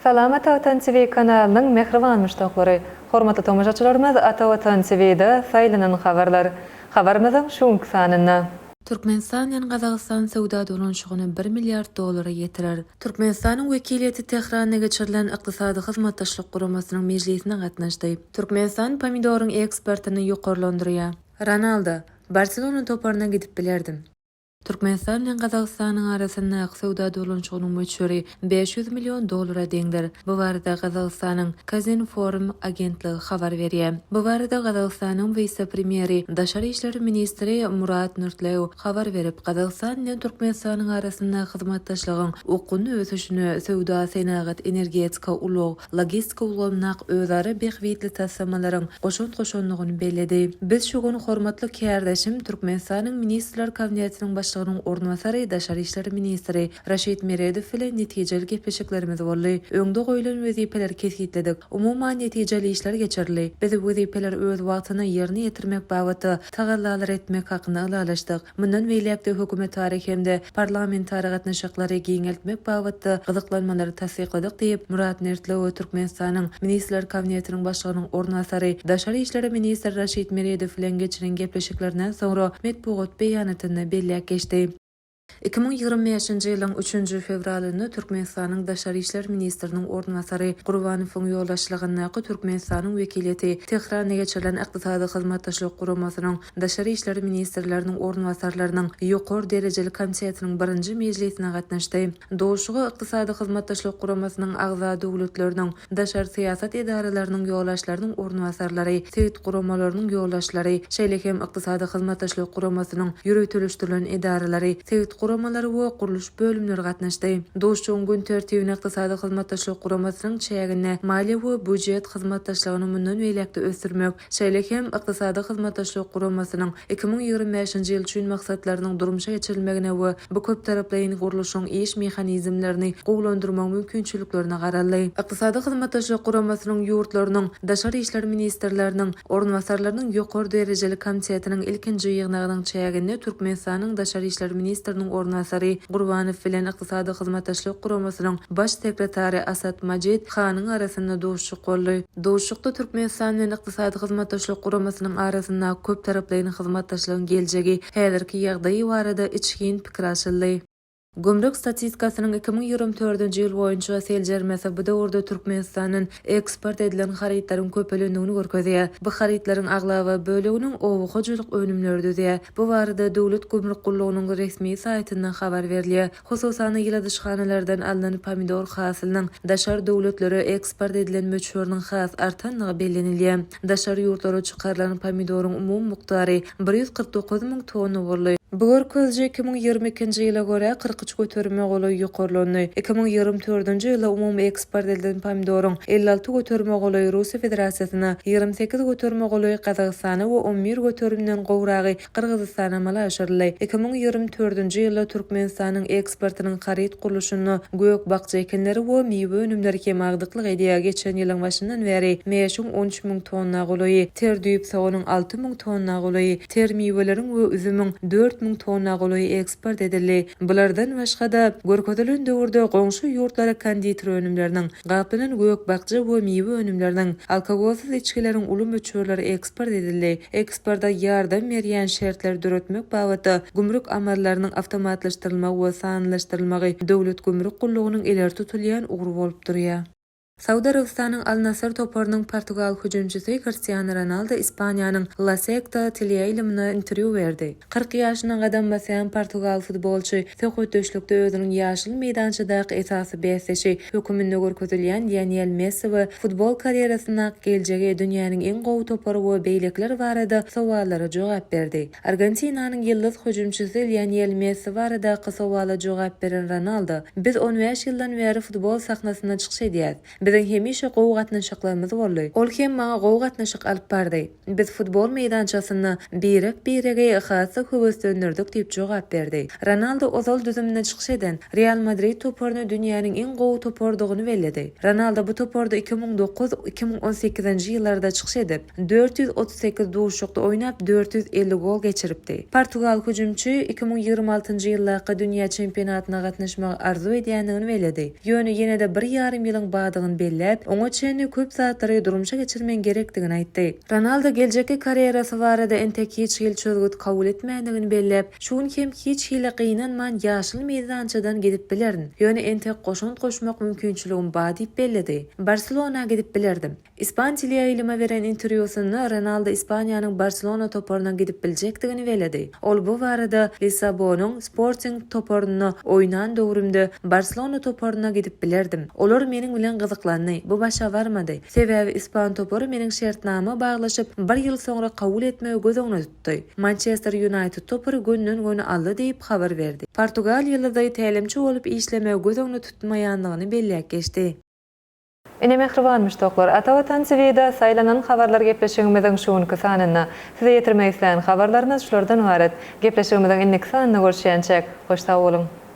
Salam Ata Watan TV kanalynyň mähriban muşdaklary! Hormatly tomaşaçylarymyz Ata Watan TV-da saýlanan habarlar. Habarymyzyň şu günki sanynda. Türkmenistan bilen Gazagystan söwda dolanyşygyny bir milliard dollara ýetirer. Türkmenistanyň wekiliýeti Tähranda geçirilen Ykdysady Hyzmatdaşlyk Guramasynyň mejlisine gatnaşdy. Türkmenistan pomidoryň eksportyny ýokarlandyrýar. Ronaldo, Barselona toparyna gidip bilerdim. Türkmenistan bilen Gazagystanyň arasyndaky söwda dolanyşygynyň möçberi bäş ýüz million dollara deňdir. Bu barada Gazagystanyň Kazinform agentligi habar berýär. Bu barada Gazagystanyň wise-premýeri, daşary işler ministri Murat Nurtlew habar berip, Gazagystan bilen Türkmenistanyň arasynda hyzmatdaşlygyň okgunly ösüşine, söwda, senagat, energetika, ulag, logistika ulgamynak özara bähbitli taslamalaryň goşant goşandygyny belledi. Biz şu gün hormatly kärdeşim, Türkmenistanyň Ministrler Kabinetiniň Başlygynyň orunbasary, daşary işler ministri, Raşid Meredow bilen netijeli gepleşiklerimiz boldy. Öňde goýlan wezipeleri kesgitledik. Umuman, netijeli işler geçirildi. Biz wezipeleri öz wagtynda ýerine ýetirmek babatda tagallalary etmek hakynda ylalaşdyk. Mundan beýläk-de hökümetara hem-de parlamentara gatnaşyklary giňeltmek babatda gyzyklanmalary tassykladyk diýip, Murat Mertlowo Türkmenistanyň Ministrler Kabinetiniň Başlygynyň orunbasary, daşary işler ministri Raşid Meredow bilen geçiren gepleşiklerinden soňra metbugat beýanatynda belläp geçdi. Iki müň ýigrimi bäşinji ýylyň üçünji fewralynda Türkmenistanyň Daşary işler ministriniň orunbasary Gurbanowyň ýolbaşçylygyndaky Türkmenistanyň wekiliýeti Tehranda geçirilen Ykdysady Hyzmatdaşlyk Guramasynyň daşary işler ministrleriniň orunbasarlarynyň ýokary derejeli komitetiniň birinji mejlisine gatnaşdy. Duşuşyga Ykdysady Hyzmatdaşlyk Guramasynyň agza döwletleriniň daşary syýasat edaralarynyň ýolbaşçylarynyň orunbasarlary, sebit guramalarynyň ýolbaşçylary, şeýle hem Ykdysady Hyzmatdaşlyk Guramasynyň ýöriteleşdirilen edaralary, sebit guramalary we gurluş bölümleri gatnaşdy. Duşuşygyň gün tertibine Ykdysady Hyzmatdaşlyk Guramasynyň çäginde maliýe we býujet hyzmatdaşlygyny mundan beýläk-de ösdürmek, Şeýle hem Ykdysady Hyzmatdaşlyk Guramasynyň iki müň ýigrimi bäşinji ýyl üçin maksatlarynyň durmuşa geçirilmegine we bu köptaraplaýyn gurluşyň iş mehanizmlerini gowulandyrmagyň mümkinçiliklerine garaldy. Ykdysady Hyzmatdaşlyk Guramasynyň ýurtlarynyň Daşary işler ministrleriniň orunbasarlarynyň ýokary derejeli komitetiniň ilkinji ýygnagynyň çäginde Türkmenistanyň Daşary işler ministriniň orunbasary Gurbanow bilen Ykdysady Hyzmatdaşlyk Guramasynyň Baş sekretary Asad Majid Hanyň arasynda duşuşyk boldy. Duşuşykda Türkmenistan bilen Ykdysady Hyzmatdaşlyk Guramasynyň arasyndaky köptaraplaýyn hyzmatdaşlygyň geljegi, häzirki ýagdaýy barada içgin pikir alşyldy. Gümrük statistikasynyň iki müň ýigrimi dördünji ýyl boýunça seljermesi bu döwürde Türkmenistandan eksport edilen harytlaryň köpelendigini görkezýär. Bu harytlaryň aglaba böleginiň oba hojalyk önümleri düzýär. Bu barada Döwlet gümrük gullugynyň resmi saýtynda habar berilýär. Hususan-da, ýyladyşhanalardan alnan pomidor hasylynyň daşary döwletlere eksport edilen möçberiniň has artandygy bellenilýär. Daşary ýurtlara çykarylan pomidoryň umumy mukdary bir ýüz kyrk dokuz müň tonna boldy. Bu görkeziji iki müň ýigrimi ikinji ýyla görä kyrk üç göterime golaý ýokarlandy. Iki müň ýigrimi dördünji ýylda umumy eksport edilen pomidoryň elli alty göterime golaýy Russiýa Federasiýasyna, ýigrimi sekiz göterime golaýy Gazagystana we on bir göterimden gowragy Gyrgyzystan amala aşyryldy. Iki müň ýigrimi törtünji ýylda Türkmenistanyň eksportynyň haryt gurluşyna gök-bakja ekinleri we miwe önümleri kem agdyklyk edýär, geçen ýylyň başyndan bäri mäşiň on üç müň tonna golaýy, ter düýp soganyň alty müň tonna golaýy, ter miweleriň we üzümiň dört müň tonna golaýy eksport edildi. Bulardan başga-da, görkezilen döwürde goňşy ýurtlara konditer önümleriniň, gaplanan gök-bakja we miwe önümleriniň, alkogolsyz içgileriň uly möçberleri eksport edildi. eksporta ýardam berýän şertleri döretmek babatda gümrük amallarynyň awtomatlaşdyrylmagy we sanlylaşdyrylmagy Döwlet gümrük gullugynyň ileri tutulýan ugry bolup durýar. Saud Arabystanyň Al Nassr toparynyň portugal hüjümçisi Kristiano Ronaldo Ispaniýanyň La Sekta teleýaýlymyna interwýu berdi. Kyrk ýaşyna gadam basýan portugal futbolçy Söhbetdeşlikde özüniň ýaşyl meýdançadaky esasy bäsdeşi höküminde görkezilýän Lionel Messi we futbol karýerasyndaky geljegi, dünýäniň iň gowy topary we beýlekiler barada sowallara jogap berdi. Argentinanyň ýyldyz hüjümçisi Lionel Messi baradaky sowala jogap beren Ronaldo, Biz on bäş ýyldan bäri futbol sahnasynda çykyş edýäs. Biziň hemişe gowy gatnaşyklarymyz boldy. Ol hem maňa gowy gatnaşyk alyp bardy. Biz futbol meýdançasynda birek-biregi has-da höweslendirdik diýip jogap berdi. Ronaldu ozal düzüminde çykyş eden Real Madrid toparyny dünýäniň iň gowy toparydygyny belledi. Ronaldu bu toparda iki müň dokuz, iki müň on sekizinji ýyllarda çykyş edip, dört ýüz otuz sekiz duşuşykda oýnap, dört ýüz elli gol geçiripdi. Portugal hüjümçi iki müň ýigrimi altynjy ýyldaky dünýä çempionatyna gatnaşmagy arzuw edýändigini belledi. Ýöne ýene-de bir ýarym ýylyň bardygyny belläp, oňa çenli köp zatlary durmuşa geçirmegiň gerekdigini aýtdy. Ronaldo geljekki karýerasy barada entek hiç hili çözgüt kabul etmändigini belläp, Şu gün hem hiç hili gynanman ýaşyl meýdançadan gidip bilerin, ýöne entek goşant goşmak mümkinçiligim ba diýip belledi. Barselona gidip bilerdim. Ispan teleýaýlyma beren interwýusynda Ronaldo Ispaniýanyň Barselona toparyna gidip biljekdigini belledi. Ol bu barada Lissabonyň Sporting toparynda oýnan döwrümde Barselona toparyna gidip bilerdim. Olar meniň bilen gyzyklandy, bu başa barmady. Sebäbi ispan topary meniň şertnama baglaşyp, bir ýyl soňra kabul etmegi göz öňüne tutdy. Mançester Ýunaýted topary gönden-göni aldy diýip habar berdi. Portugal ýyldyzy tälimçi bolup işlemegi göz öňüne tutmaýandygyny belläp geçdi. Ine mähriban muşdaklar, Ata Watan TV-de saýlanan habarlar gepleşigimiziň şu günki sanynda. Size ýetirmek islän habarlarymyz şulardan ybarat. Gepleşigimiziň indiki sanynda görüşýänçäk, hoş sag boluň!